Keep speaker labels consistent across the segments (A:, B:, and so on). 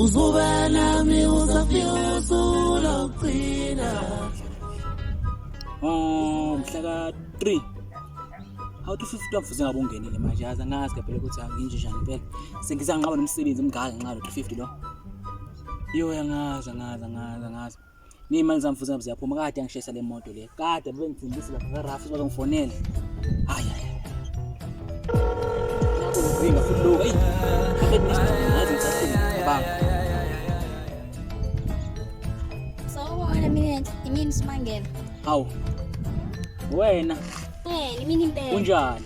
A: uzoba nami uzafika usuku lokugcina
B: um mhla ka-three awuthi fifty wafuze ngabe ungenile manje yazi angazi phela ukuthi anginje njani phela sengize anqaba nomsebenzi mngaka ngenxa lo-three fifty lo Yo angazi angazi angazi angazi. Ngiyimali zami futhi ziyaphuma kade angishayisa le moto le. Kade bengithembisa lapha ka Rafu bazongifonela. Hayi hayi. Uvinga futhi lo. Hey. Akekho isidingo ngazi ngisafuna banga.
C: Sawubona mina imini simangela. Hawu.
B: Wena. Eh,
C: imini impela. Unjani?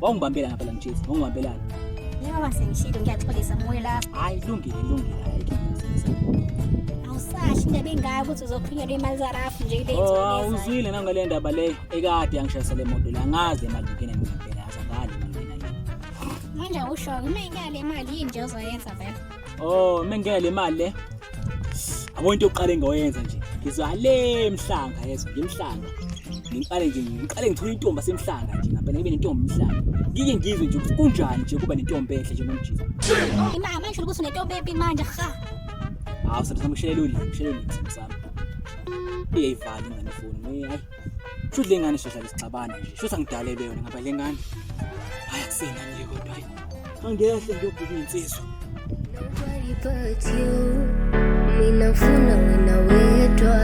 B: Wawungibambela ngapha la mjezi, wawungibambelana. Njengoba
C: sengishilo ngiyaxolisa moya la. Hayi lungile lungile
B: hayi ngiyazisa.
C: Awusashi indaba engaka ukuthi uzophunyelwa imali za Rafu nje kule Oh, ah, inzoka. uzwile nanga le ndaba
B: le ekade yangishayisa le moto la ngaze imali ngene mina phela azangali mina. Manje awusho
C: mina ngale mali yini nje ozoyenza vele. Oh, mengena le
B: mali le. Abo into yokuqala engiyoyenza nje. Ngizwa le emhlanga yezwa, ngemhlanga. Ngiqale nje, ngiqale ngithole intombi asemhlanga nje, ngapha ngibe nentombi emhlanga. Ngike ngizwe nje ukuthi kunjani nje kuba nentombi enhle nje ngomjisa. Imama isho
C: ukuthi unentombi embi manje cha.
B: Hawu, sami sami kushelela ulimi, kushelela ulimi sami sami. Iyayivala ingane ifoni. Hayi. Sho le ngane soza lesixabana nje. Sho sangidalele yona ngaba le ngane. Hayi akusena nje kodwa hayi. Angehle ngiyobheka insizwa.
D: Nobody but you. Mina ngifuna wena wedwa.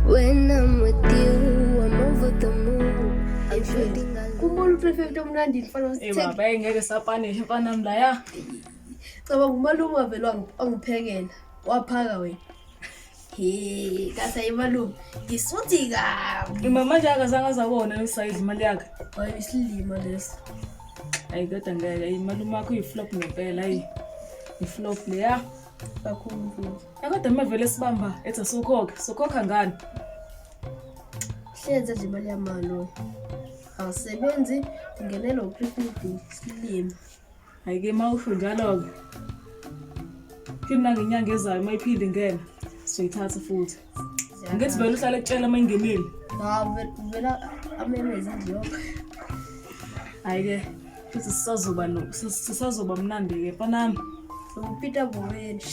D: When I'm with you, I'm over the moon. I'm shooting alone. Kumbona uprefect
E: omnandi mfana Eh wasithek. baba hey, ngeke
F: sapanishe mfana mla ya. Cabanga
E: umalume wavele wangi- wangiphekela. Waphaka wena. Hey, kasa imalume ngisuthi kabi Mama nje
F: akazange azakona usayidla imali yakhe. hayi isilima
E: leso Hayi
F: kodwa ngeke imalume akho uyiflop ngempela hayi. Iflop leya. kakhulu
E: mfundisi Akade mavele
F: sibamba ethi asokhokhe, sokhokha ngani?
E: hlenze nje imali yamaloyo awusebenzi ungenela u-three fifty isilima hayi ke
F: uma usho njalo-ke phinde nangenyanga ezayo uma iphinde ingena sizoyithatha futhi ngithi vele uhlale kutshela uma ingenile vela
E: amemeza ngiyoka
F: hayi-ke futhi sisazoba sisazoba mnandi-ke mfanami ukupita
E: boweni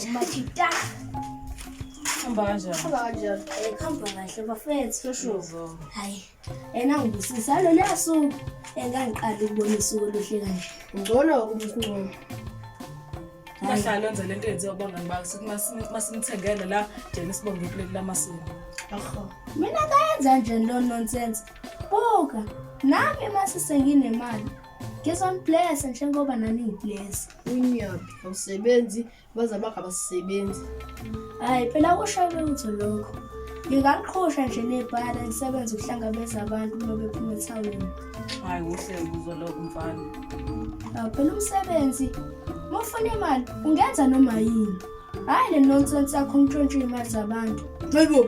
E: umakita
F: hamba kanjani hamba kanjani hamba
E: kahle bafethu shosho hayi Ena ngibusisa lona suku engangiqala ukubona isuku oluhle kanje. Ngcono umkhulu. Bahlala
F: enze lento yenziwa bona ngibakho masimthengele la jena sibonge iplate lamasini. Akho.
E: Mina kayenza nje lo nonsense. Buka, nami masisenginemali. Ngizombless njengoba nani ngibless. Unyaphi awusebenzi abazali bakho abasebenzi hhayi phela kushaye lutho lokho ngingaqhosha nje nebhala ngisebenze ukuhlangabeza abantu uma bephuma ethawini hhayi kuhle
F: kuzo lokho mfana awu phela
E: umsebenzi uma ufuna imali ungenza noma yini hhayi le nonsense yakho ntshontshe iy'mali zabantu hayibo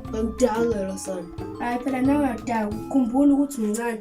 E: ngangidakela sana hhayi phela nangadaku khumbula ukuthi uncane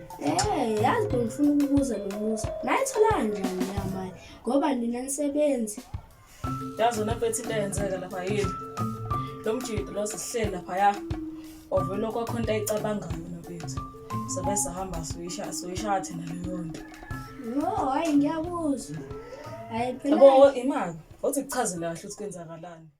F: Eh, yazi
E: bengifuna ukubuza nomusa. Nayitholanga njani leya mali? Ngoba nina nisebenzi. Yazi
F: wena mfethu into eyenzeka lapha yini? Lo mjidi lo sihleli lapha ya. Ovela kwakho into ayicabangayo nabethu. Sobe sahamba suyisha suyisha thina leyo nto. No, hayi
E: ngiyakuzwa. Hayi phela. Yabo imali.
F: Othi kuchazela kahle ukuthi kwenzakalani.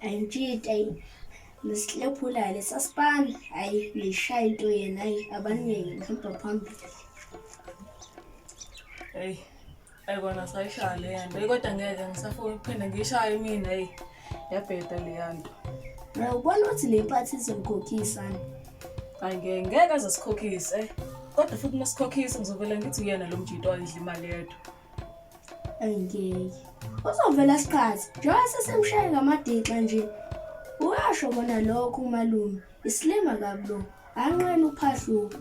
E: ayintshita yini nesilephulayo lesasipani hayi niyishaya into yena hayi abaningi bahamba phambili
F: eyi ayi kona sayishaya leya nto eyi kodwa ngeke ngisafuna ukuphinde ngiyishaye imina eyi yabheda leya nto na ubona
E: ukuthi le mpathi izomkhokhisa-ni hayi
F: ngeke ngeke aze sikhokhise kodwa futhi uma sikhokhise ngizovele ngithi uyena lo mjito ayidla imali yedwa
E: ayingeke uzovela sikhathi njengoba sesemshaye ngamadinxa nje uyasho kona lokho umalume isilima kabi lo anqena uphahluka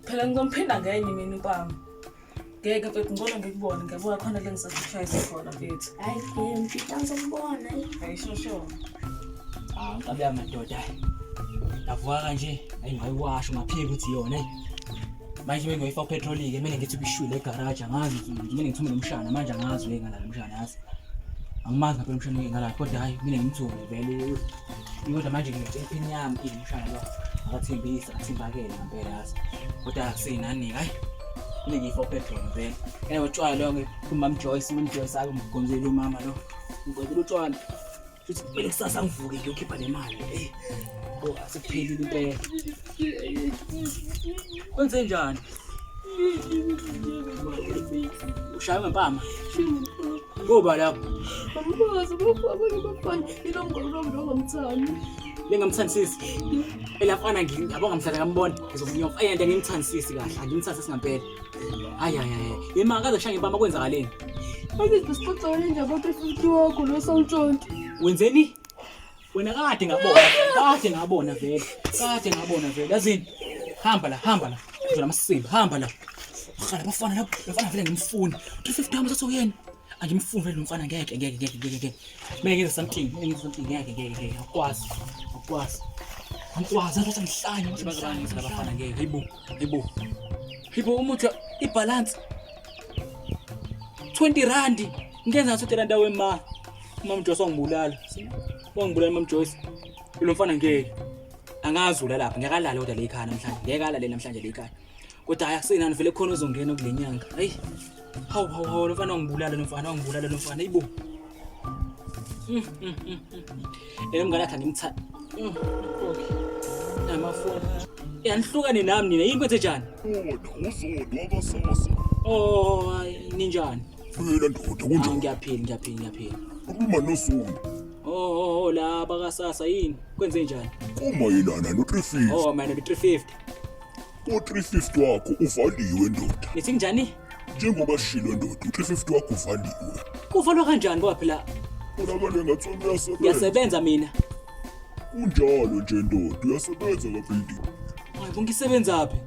E: phela
F: ngizomphinda ngenye mina ukwami ngeke mfethu ngcono ngikubone ngiyabuka khona le ngisakushayisa khona mfethu hayi ke mfethu angizokubona hayi
E: sho sho ah
B: ngabe amadoda avuka kanje ayi ngayiwasho ngaphika ukuthi yona manje mina ngiyoyifa upetrol ke mina ngithi kuyishwile egaraji angazi mina ngithi mina umshana manje angazi we ngalala umshana yazi angimazi ngabe umshana ngalala kodwa hayi mina ngimthole vele kodwa manje ngithe impini yami ini umshana lo akathembisa akathembakele ngempela yazi kodwa akusinani hayi mina ngiyifa upetrol vele yena utshwala lo ke kumam Joyce mam Joyce akumgomzela umama lo ngicela utshwala Futhi kumele kusasa ngivuke ngiyokhipha nemali. Ey. Bo, asiphelile impela. Kwenze njani? Ushaya ngempama. Ngoba lapho. Angikwazi
E: ukufa abanye bafana ilo mngolo lo ndo ngamthandi. Lengamthandisisi.
B: Elafana ngiyabonga mhlaka ngambona. Ngizomnyofa. Ayanda ngimthandisisi kahle. Angimthandisisi ngampela. Hayi hayi hayi. Yema akaze kushange bama kwenzakaleni. Manje
E: sixoxele nje kodwa futhi wakho lo sawuntshontshe. Wenzeni?
B: Wena kade ngabona. Kade ngabona vele. Kade ngabona vele. Yazini? Hamba la, hamba la. Ngizona amasimba, hamba la. Qala bafana lapho, bafana vele ngimfuni. 350 hamba sasokuyena. Angimfuni vele umfana ngeke ngeke ngeke ngeke ngeke. Mina ngenza something, mina ngenza something ngeke ngeke ngeke. Akwazi. Akwazi. Akwazi, akwazi ngihlanye. Bazobangisa labafana ngeke. Hayibo. Yibo. Yibo umuthi ibalance 20 rand ngenza ngaso 30 rand awe ma. Mama Joyce wangibulala. Wangibulala Mama Joyce. Lo mfana ngeke. Angazula lapha ngeke alale kodwa le ikhaya namhlanje. Ngeke alale namhlanje le ikhaya. Kodwa hayi akusenani vele khona ozongena kulenyanga. Hayi. Hawu hawu hawu lofana ungibulala lofana ungibulala lofana ibo. Mm, mm, mm, eh mngane akhe ngimtha. Okay. Namafoni. Yanihlukane nami nina yini kwethe njani? Wona uzodwa
G: abasasa. Oh hayi
B: ninjani? Phela ndoda
G: kunjani? Ah, ngiyaphila ngiyaphila ngiyaphila.
B: Ukhuluma
G: noSundi. Oh, oh, oh la
B: bakasasa yini? Kwenze njani? Kumayelana no
G: 350. Oh, mayelana no 350. U-350 wakho uvaliwe ndoda. Nithi njani?
B: Njengoba shilo
G: ndoda, u-350 wakho uvaliwe. Kuvalwa kanjani
B: ngoba phela Ubonakala engathi
G: wena uyasebenza. ngiyasebenza mina.
B: Kunjalo
G: nje ndoda, uyasebenza kabuilding. Hayi bo
B: ngisebenzaphi?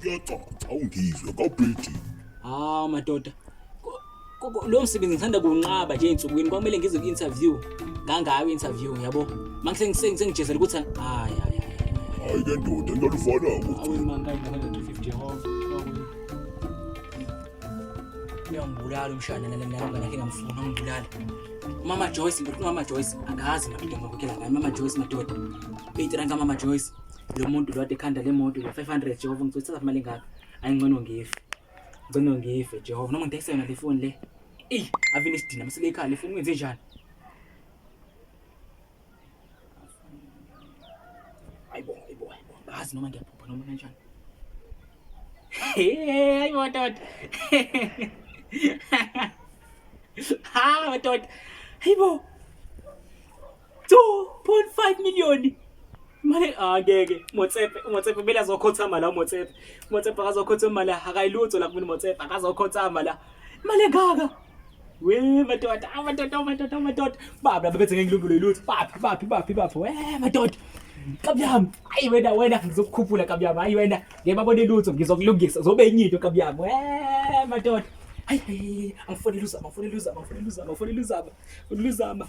B: Kuyacaca
G: awungizwe kabuilding. Hawu madoda.
B: Lo msebenzi ngithanda kuwunqaba nje ensukwini kwamele ngize ku-interview ngangayo interview yabo manje sengijezela ukuthi hayi hayi hayi
G: ke ndoda ngalufana
B: uyangibulala umshana nalangakhe ngamfuna ungibulala umama joyce ngithi umama joyce angazi madoda ngakhokhela ngani mama joyce madoda beyitiranka mama joyce lo muntu lo ade ekhanda le moto lo-five hundred jehova ngithothi thatha mali engaka ayingcono ngife Ngicela ngife Jehova noma ngidayisa yona le phone le. Ey, avile sidina masile ekhaya le phone ngenze njani? Ayibo, ayibo, ayibo. Ngazi noma ngiyaphupha noma kanjani. Hey, ayibo dot. Ha, dot. Ayibo. 2.5 million mali angeke motsepe motsepe bela zokhothama la motsepe motsepe akazokhothama mali akayilutho la kumina motsepe akazokhothama la mali engaka we madoda amadoda amadoda amadoda baba bebethe ngengilumbulo yilutho baphi baphi baphi baphi we madoda kabuyami ayi wena wena ngizokukhuphula kabuyami ayi wena ngiyababona ilutho ngizokulungisa zobe enye into kabuyami we madoda hayi angifonela uzama angifonela uzama angifonela uzama angifonela uzama uluzama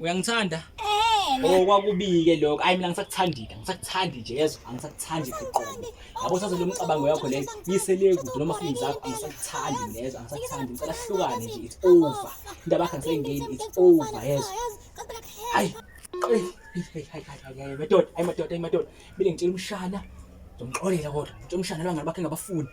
B: Uyangithanda? Eh. Oh kwakubike lokho. Ayi mina ngisakuthandile. Ngisakuthandi nje yezwa. Angisakuthandi kuqobo. Yabo saze lo mcabango yakho leyo. Yisele kude noma fini zakho angisakuthandi lezo. Angisakuthandi. Ngicela hlukane nje. It's over. Indaba yakho ngisengeni. It's over yezwa. Ayi. Hey hey hey hey. Madoda, ayi madoda, ayi madoda. Mina ngitshela umshana. Ngizomxolela kodwa. Ngitshela umshana lwangani bakhe ngabafuni.